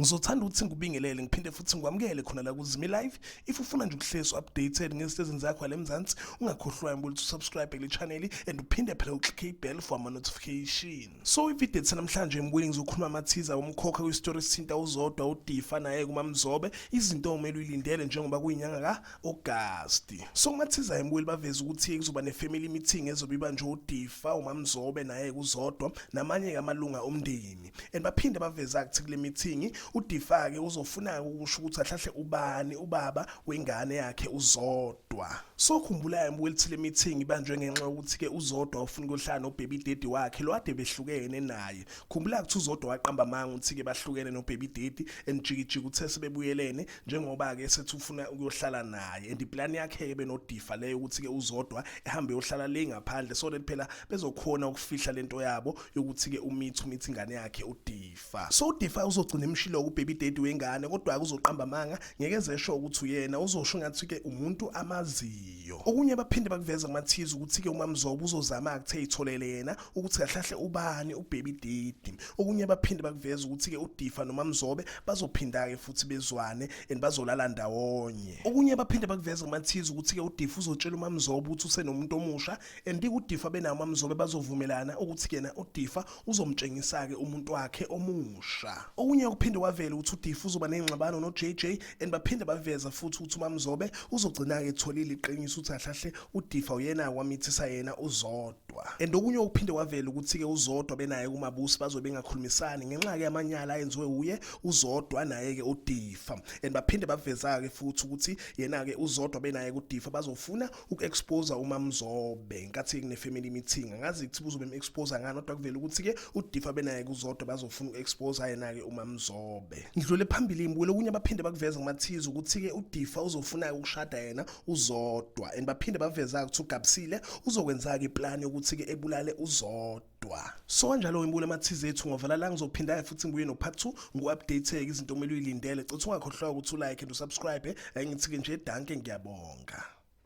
Ngizothanda ukuthi ngikubingelele ngiphinde futhi ngikwamukele khona la kuZimi Live. If ufuna nje ukuhlezi updated ngesitezini zakho la eMzansi, ungakhohlwa ukuthi usubscribe kule channel and uphinde phela uclick ibell for ama notification. So ivideo ethe namhlanje embuye ngizokhuluma amathiza umkhokha kwistory sithinta uzodwa udifa naye kumamzobe izinto okumele uyilindele njengoba kuyinyanga ka August. So kumathiza embuye baveza ukuthi kuzoba nefamily meeting ezobe ibanjwe udifa umamzobe naye kuzodwa namanye kamalunga omndeni. And baphinde baveza ukuthi kule meeting udifa ke uzofuna ukusho ukuthi ahlahle ubani ubaba wengane yakhe uzodwa. Zodwa. Sokhumbula embuka elithile meeting ibanjwe ngenxa yokuthi ke uZodwa ufuna ukuhlala no baby daddy wakhe lo ade behlukene naye. Khumbula ukuthi uZodwa waqamba manga ukuthi ke bahlukene no baby daddy and jikijiki uthe sebebuyelene njengoba ke sethi ufuna ukuyohlala naye and iplan yakhe ke benodifa leyo ukuthi ke uZodwa ehambe yohlala le ngaphandle so that phela bezokhona ukufihla lento yabo yokuthi ke umithi umithi ingane yakhe udifa. fa so udefa uzogcina emshilo kubaby daddy wengane kodwa akuzoqamba amanga ngeke zesho ukuthi uyena uzosho ngathi ke umuntu amaziyo okunye baphinde bakuveza kumathiza ukuthi ke umamzobo uzozama akuthe itholele yena ukuthi kahlahle ubani ubaby daddy okunye baphinde bakuveza ukuthi ke udifa nomamzobe bazophinda ke futhi bezwane and bazolala ndawonye okunye baphinde bakuveza kumathiza ukuthi ke udifa uzotshela umamzobo ukuthi usenomuntu omusha and uDifa benawo mamzobe bazovumelana ukuthi kena uDifa uzomtshengisa ke umuntu wakhe omusha okunye okuphinde kwavela ukuthi uDifa uzoba nengxabano noJJ and baphinde baveza futhi ukuthi umamzobe uzogcina ke etholile iqiniso ukuthi ahlahle uDifa uyena kwamithisa yena uzodwa and okunye okuphinde kwavela ukuthi ke uzodwa benaye kumabusi bazobe bengakhulumisani ngenxa ke yamanyala ayenziwe uye uzodwa naye ke uDifa and baphinde baveza ke futhi ukuthi yena ke uzodwa benaye kuDifa bazofuna uku-expose umamzobe ngenkathi kune-family meeting angazi kuthiba uzobe em-expose ngani kodwa kuvele ukuthi-ke udifa benaye kuzodwa bazofuna uku-expose yena-ke umamzobe ngidlule phambili ngibukele okunye abaphinde bakuveze kumathize ukuthi-ke udifa uzofuna-ke ukushada yena uzodwa and baphinde baveza-ke ukuthi ugabisile uzokwenza-ke iplani yokuthi-ke ebulale uzodwa kodwa so kanjalo ngibule amathize ethu ngovala la ngizophinda futhi ngibuye no part 2 ngu-updateke izinto omele uyilindele cotha ungakhohlwa ukuthi ulike and usubscribe ayingithi-ke nje danke ngiyabonga